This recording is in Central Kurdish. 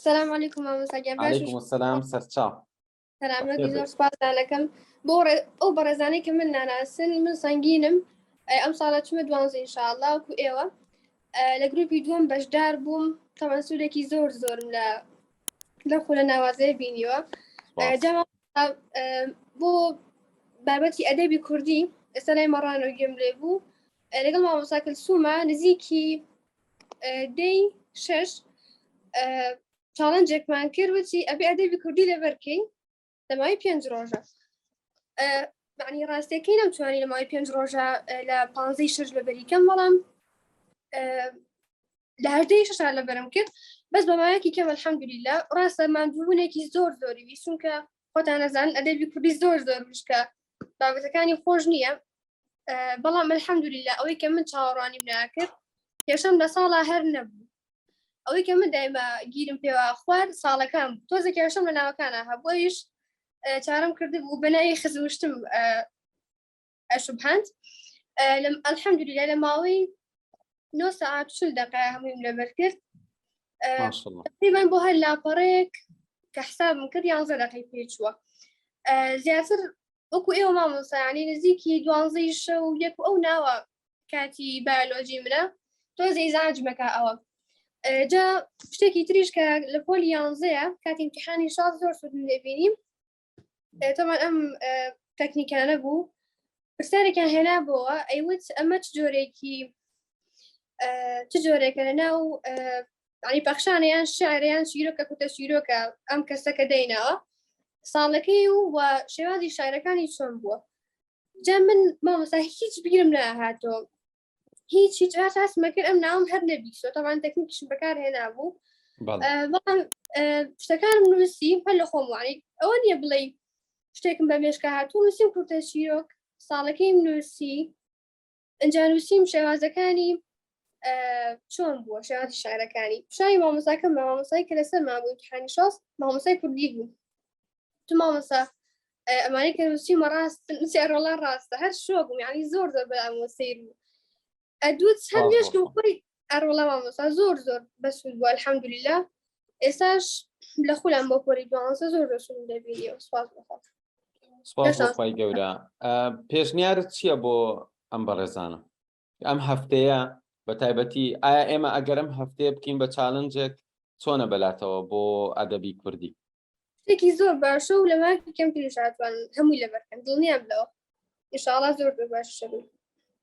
سلام علیکم مامۆستا گیان باش علیکم السلام سەرچاو سلامەت زۆر سپاسدانەکەم بۆ ئەو بەڕێزانەی کە من ناناسن من سنگینم ئەم ساڵە چمە دوانزە انشاءله وکو ئێوە لە گروپی دووەم بەشدار بووم تەمان سوورێکی زۆر زۆرم لە لە خولە ناوازەیە بینیوە بۆ بابەتی ئەدەبی کوردی ئێستا لای مەڕانەوە گوێم لێ بوو لەگەڵ مامۆساکەل سوومە نزیکی دەی شەش چاڵنجێکمان کرد وچی ئەبێ ئەدەبی کوردی لەبەرکەین لەماوەی پێنج ڕۆژە معنی ڕاستەکەی نەمتوانی لەماوەی پێنج ڕۆژە لە پانزەی شەش لە بەریکەم بەڵام لە هەردەی شار لە بەرم کرد بەس بەمایەکی کەم الحەمدلیلا ڕاستە مادبوونێکی زۆر زۆری ویسونکە خۆتان نەزان ئەدەبی کوردی زۆر زۆر مشکە بابەتەکانی خۆش نییە بەڵام الحەمدولیلا ئەوەی کە من چاوەڕوانیم ناکرد کێشم لە ساڵا هەر نەبوو ئەوەی کە من دایمە گیرم پێوە خوار ساڵەکان تۆزە کێشم لە ناوەکانە هەبوویش چارم کرد بوو بەناوی خزمشتم شبهند الحمد لله لە ماوەی نۆ ساعت چل دقە هەموویم لەبەر کرد تقریبان بۆ هەر لاپەڕێک کە حسابم کرد یانزە دقی پێچووە زیاتر وەکو ئێوە مامۆسایانی نزیکی دوانزەی شە و یەک ئەو ناوە کاتی بایۆلۆجی منە تۆزەی زانجمەکە ئەوە جا شتێکی تریش کە لە پۆلی یانزەیە کاتی امتحانی شاز زۆر سودن دەبینیم تەمان ئەم تەکنیکانە بوو پرسیارێکیان هێنا بۆە ئەیوت ئەمە چ جۆرێکی چ جۆرێکە لە ناو ینی پەخشانیان شعریان شیرۆکە کوتە شیرۆکە ئەم کەسەکە دەینەوە ساڵەکەی و و شێوازی شارەکانی چۆن بووە جا من مامۆستا هیچ بیرم ناهاتۆ هیچ هیچ ئاش ئاسمە کرد ئەم ناوم هەر نەبیشەوە تەوان تەکنیکیشم بەکار هێنابوو بەڵام شتەکانم نووسی هەر لە خۆم وانی ئەوە نیە بڵێ شتێکم بە مێشکە هاتوو نووسیم کورتە چیرۆک ساڵەکەیم نووسی ئەجا نووسیم شێوازەکانی چۆن بووە شێواز شارەکانی شای مامۆساکە مامۆسای کە لەسەر مابوو حانیشاس مامۆسای کوردی بوو تو مامۆسا ئەمانی کە چیمە ڕاست ڕۆڵە ڕاستە هەر شوە بووم ینی زۆر زۆر بەمۆ سیر بوو ئەدوت هەر لێشکم خۆی ئەڕۆڵە مامۆسا زۆر زۆر بەسود بووە الحەمدلیلا ئێساش لە خولم بۆ پۆری دوانسە زۆر دەشم دەبینی سپاس بخۆم سپاس خی گەورە پێشنیارت چییە بۆ ئەم بەڕێزانە ئەم هەفتەیە بە تایبەتی ئایا ئێمە ئەگەرم هەفتەیە بکەین بە چالنجێک چۆنە بەلاتەوە بۆ ئەدەبی کوردی شتێکی زۆر باشە و لە ماکی کەم تریشاتوان هەمووی لەبەرکەن دڵنیام لەوە ئشاڵا زۆر زۆر باش شەبوو